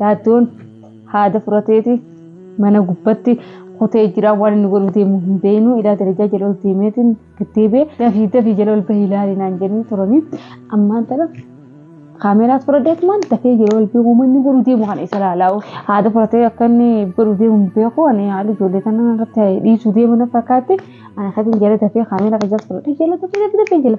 Yaaddoon haada furateeti mana gubbatti kutee jira waan inni godhu deemu hin beeknu ilaa darajaa jala ol deemeetiin gaddeebee dafii dafii jala ol bahii ilaali naan jedhanii turanii ammaan tana kaameraas fudhadheet maan dafee jala ol beeku manni godhu deemu kana isa laalaa'u haada furatee akka inni godhu deemu hin beeku ani haala ijoollee kana irratti dhiisuu deemu na fakkaatti ana katiin jala dafee kaamera kajaas fudhadhee jala dafee dafee dafee jala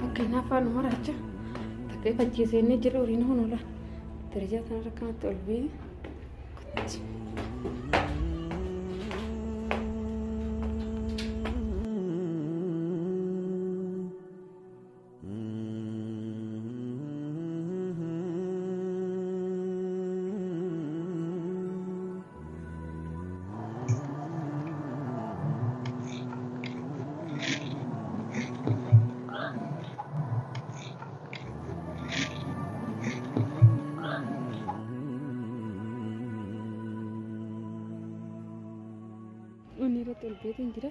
Fakkeenyaaf afaan maraacha takkee fachiisee inni jira waliin honola. Darajaa kanarra kanatti ol bee. Inni irratti ol beetiin jira.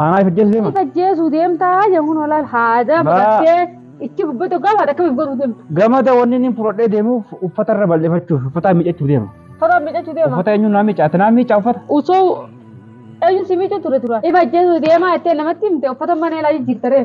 Aanaa if ajjeessu deema. If ajjeesuu deemtaa jechuun olaal haada Baa- baqattee ichi gubbatu gaafa akka if godhu deemtu. Gamada wanni inni fudhadhee deemuuf uffata irra bal'ifachuuf uffata miiccachuu deema. Uffata miidhachuu deema. Uffata eenyuun naa miicca? Ati naa miicca uffata? Usoo eenyu si miidhu ture tura. If ajjeesuu deemaa jettee namatti himte uffata mana ilaa jijjiirtaree.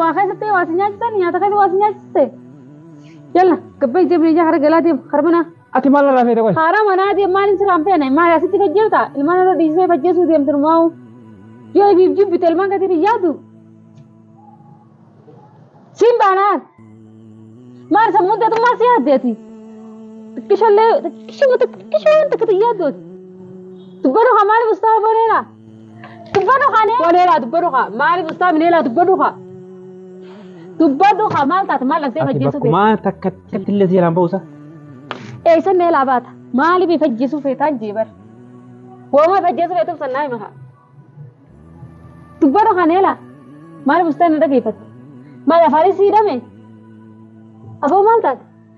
Waa keessatti waa si nyaachisan nyaata keessa waa si nyaachiste. Yalla gabba ija meeshaa hara galaa deemu hara manaa. Ati maal irraa feete qoy? Hara manaa deemu maaliin siraan feene maali asitti gajjeelta ilmaan irra dhiisee fajjeesuu deemtu numaa'u. Yoo ibiif jibbite ilmaan gatiin hin yaadu. Siin baanaan. Maal sammuun teetu maal si yaaddeeti? Xiqqishallee xiqqishuma xiqqishuma waan takkatu yaaddooti. Dubbadhu kan maaliif ustaa boneera? Dubbadhu kaa nee. Kolee laa dubbadhu kaa. Maaliif ustaa minee laa dubbadhu kaa. Dubbadhu kaa maal taate maal dhaqxee Ati fajjeessuu feeta. bakkumaa takka takkatti illee seeraan ba'uusa. Eessa nee laa baata. Maaliif fajjeessuu feetaan jee bar. Woomaa fajjeessuu feetu sannaa hima kaa. Dubbadhu kaa nee laa. Maaliif ustaa na dhageeffatte. Maal afaanis siidhame. Afoo maal taate.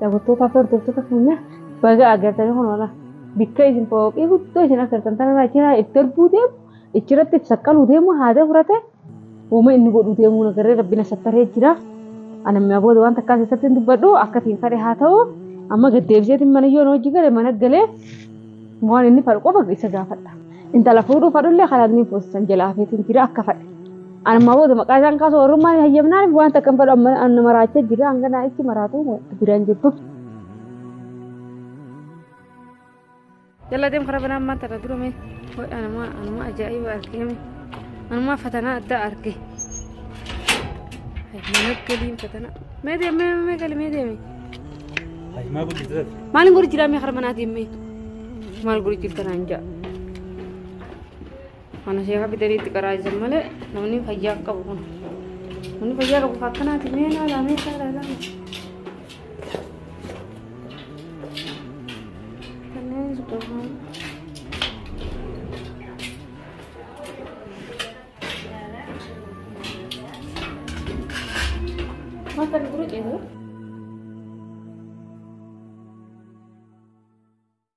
Daawwattootaa fi hordoftoota keenya baga agartanii kun oola. Bikka isin fooqii guddoo isin agartan tanarraa jira itti darbuu deemu ichirratti itti saqqaluu deemu haada furate uuma inni godhuu deemuu nagarree rabbi na sattaree jira. Ana mi'a booda waan takkaa keessatti hin dubbadhu akka ittiin fadhe haa ta'u amma gad deebiseetiin mana yoo na hojii gale mana galee waan inni fadhu qofa isa gaafadha. Intala fuudhuu fadhullee kanaan ni fuusisan jala hafeetiin jira akka fadhe. Armaa booda maqaa isaan kaasuu warrummaa hin hayyamnaaniif waan takka hin fedhu amma anna maraachaa jira hanga naa itti maraatu biraan jirtu. Jala deem karaa banaa ammaa tana durame anuma anuma ajaa'iba argeeme anuma fatanaa addaa arge. Mana galiin fatanaa mee deemee mee gali mee deemee. Hajimaa guddisee. Maaliin godhu jiraa mee karaa manaa deemee maal godhu jirta naan ja'a. Mana sheekaa fidaniitti qaraa'isan malee namni fayyaa qabu kun. Namni fayyaa qabu kan akkanaati mee ilaalaa mee ilaalaa ilaalaa. Kanneen suuqamaan. Mata dulu itu.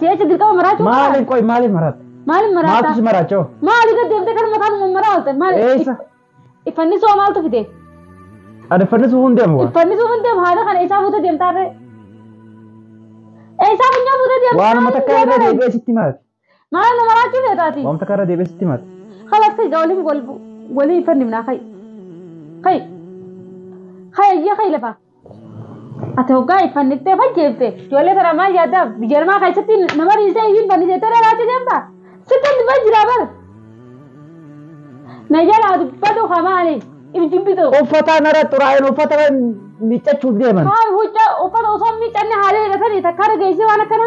Si'eecha dirqama maraachuu Maaliif qoy maaliif maratta? Maaliif Maaltu maraataa? si maraachoo? Maali gad deemtee kan mataan mummaraa oolte? Maali? Eessa? Iffannisoo maaltu fide? Adeeffannisuuf hin deemu. Iffannisoo hin deemu haala kana eessaa fuutee deemtaa ree? Eessaa funyoo fuutee deemtaa? Waanuma takka irra deebi'ee sitti maratte. Maal nama raachuu feetaati? Waan takka irra deebi'ee sitti himata. Kalaas kai gaa waliin wal walii fannifnaa kai. Kai. Kai ayyee kai lafa. Ati hoggaa hin fanniftee fajjeefte ijoollee tana maal yaaddaa biyya namaa keessatti nama dhiisee hin fanniseettee na raachuu deemta. Sitti hin dubban jiraa bar. Na jalaa dubbatu haa maali? Ibjibbitu. Uffata nara xuraa'een uffata miiccachuuf deeman. Haa huccaa uffata osoo hin miiccanne haalee hidhatanii takkaa dhageessee waan akkana.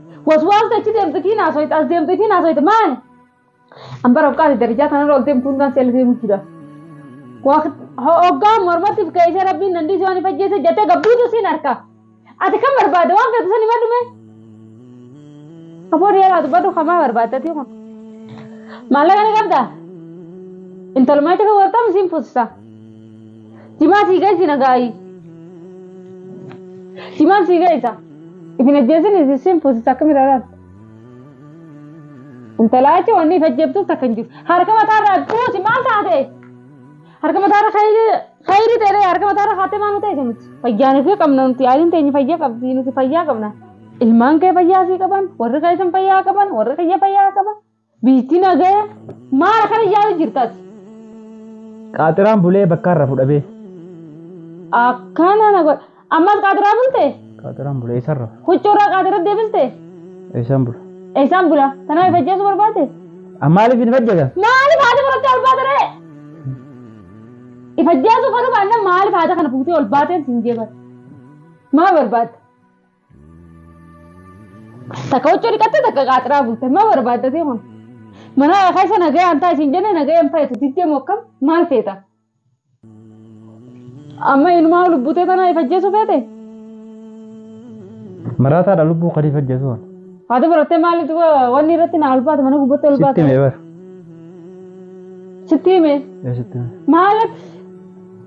Waswaasa achi deemte kiin haasoyte as deemte kiin haasoyte maali? An bara buqqaati darajaa kanarra ol deemtu hundaan seela deemuu jira. Hoggaa mormatti keessee rabbiin dandii si waan hin fajjeesse jettee gabbuutu siin harka. Ati kan barbaade waan feetu san himadhu mee? Afoon yeelaa dubbadhu kamaa barbaaddati kun. Maallaqa ni qabdaa? Intalumaacha kan wartamu siin fuusisa. Simaa sii geessi nagaayii. Simaan sii geessa. Ifin ajjeesin isin sin fuusisa akkami raaraan. Intalaa jechuun wanni ifa ajjeeftuuf takka hin jiru. Harka mataarraa buusi maal taate? Harka mataarra khayri ta'e harka mataarra haatee maal ta'e nuti? Fayyaan fi qabna nuti yaaliin teenya fayyaa qabdi nuti fayyaa qabna. Ilmaan kee fayyaa sii qaban warri keessan fayyaa qaban warri kiyya fayyaa qaban. Biitti nagaya maala kana yaa'u jirtati. Qaaxiraan bulee bakka irra fudhabee. Akkana na godha. Ammas qaaxiraa bulte? Qaaxiraan bulee eessan rafa? Huccuurraa qaaxiratti deebiste? Eessan bula? Eessan bula? Tanaaf if ajjeesuu barbaade? An maaliif hin fajjata? Maaliif haati fudhattee ol baate ree? If ajjeesuu fedhu baannan maaliif haata kana fuutee ol baateen siin jeebate? Maal barbaadda? Takka huccuu dhiqattee takka qaaxiraa bulte maa barbaaddatee kun? Mana keessa nagayaan ta'a isin jenne nagayaan ta'itu diddee moo akkam maal feeta? Amma inumaa lubbutee tana ifajjeesuu feete? Maraataadha lubbuu kan ifajjeesuu. Haati barattee maaliif wanni irratti naa ulfaate mana gubbatti Sitti ulfaate? mee bara. Sitti hime Ee sitti mee. Maaliif?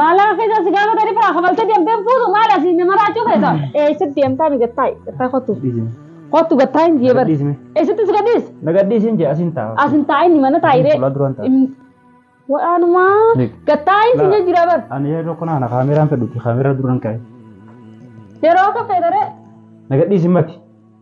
Maallaqa keessaa si gaafata ni biraa kafaltee deemtee hin fuutu maal asii na maraachuu keessa. Eessatti deemtaa mi gattaa gattaa kottu. Kottu gattaa hin jee bari. Eessatti si gadhiis. Nagadhiisin jee asin ta'a. As hin taa'in mana taa'iree. Fuula duraan ta'a. Waanumaa Beek. gattaa hin si jira bar. Ani yeroo kana ana kaameraan fedhuti kaameraa duraan ka'e. Yeroo akka feedaree. Nagadhiisin mati.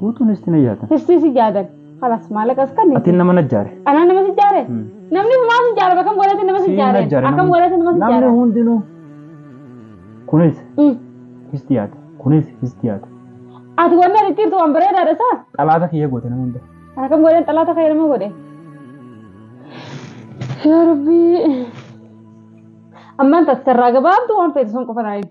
Guutuun isti na yaatan. Istii si jaadan. Kalas maalaqa si kanniti. Atiin nama najjaare. Anaa nama si jaare? Hmm. Namni humaa si jaara bakam godhate nama si Siin jaare? najjaare Akkam namni. godhate nama si Namni jaara? hundinuu. Kunis Mm. isti yaate. Kunis isti yaate. Ati wanni ati jirtu waan bareedaadha saa? Xalaata kiyya goote nama hunda. Akkam godhan xalaata kee nama godhe? Yaa Rabbii. Ammaan taasisarraa gabaabdu waan feetu sun qofa naa himi.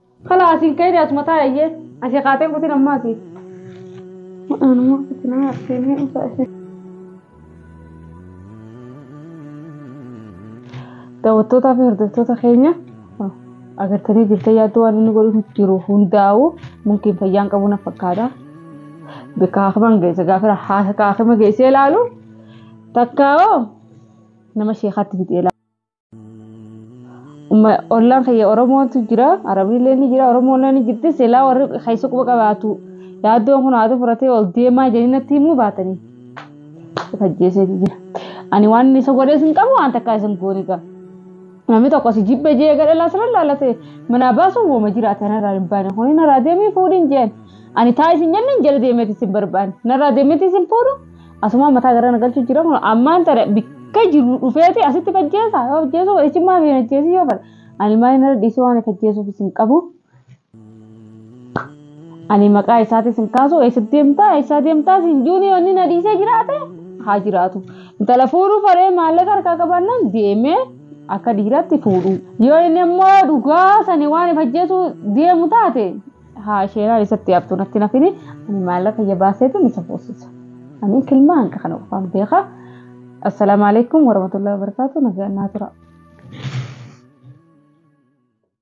Kala asin kaini asuma taa ayye. Asi kaateen kutin ammaa si. Anuma kutinaa arteenii usaa isin. Daawwattootaa fi hordoftoota keenya agartanii jirtan yaaddu waan inni godhu jiru hundaa'u mumkin fayyaan qabu na fakkaata. Bakka hakiman geesse gaafira hakima geessee ilaalu takkaa nama sheekaatti fixee ilaalu. Umma- ollaan kiyya oromootu jira arabiillee ni jira oromoollee ni jirti silaa warri keessa quba qabaatu yaaddoon kun haati furatee ol deemaa jedhanii natti himuu baatanii isa ajjeeseeti jira ani waan inni isa godhee isin qabu waan takkaa isin goone qaba namni tokko si jibbe jee gara laasira laalate manaa baasuun wooma jiraate narraa hin baane kuni narraa deemee fuudhin jeen ani taa isin jenne hin jala deemeeti isin barbaanne narraa deemeeti isin fuudhu Asumaa mataa gara na galchuu jira kun ammaan tana bakka jiru dhufeeti asitti fajjeessa yoo fajjeessu echimmaa fi fajjeessu yoo fadha. Ani maal inni irra dhiisuu waan fajjeessuuf isin qabu. Ani maqaa isaatis hin kaasu eessa deemtaa eessa deemtaa siin juuni yoo inni na dhiisee jiraate haa jiraatu. Intala fuudhuu faree maallaqa harkaa qabaannaan deemee akka dhiiraatti fuudhu. Yoo inni immoo dhugaa sani waan fajjeessu deemu taate haa sheeraa isatti yaabtu natti nafini ani maallaqa ija baaseetu isa fuusisa ani kilmaa hanqa kana qofaan beeka assalaamu alaikum warahmatullahi wabarakaatu nagaa naa tura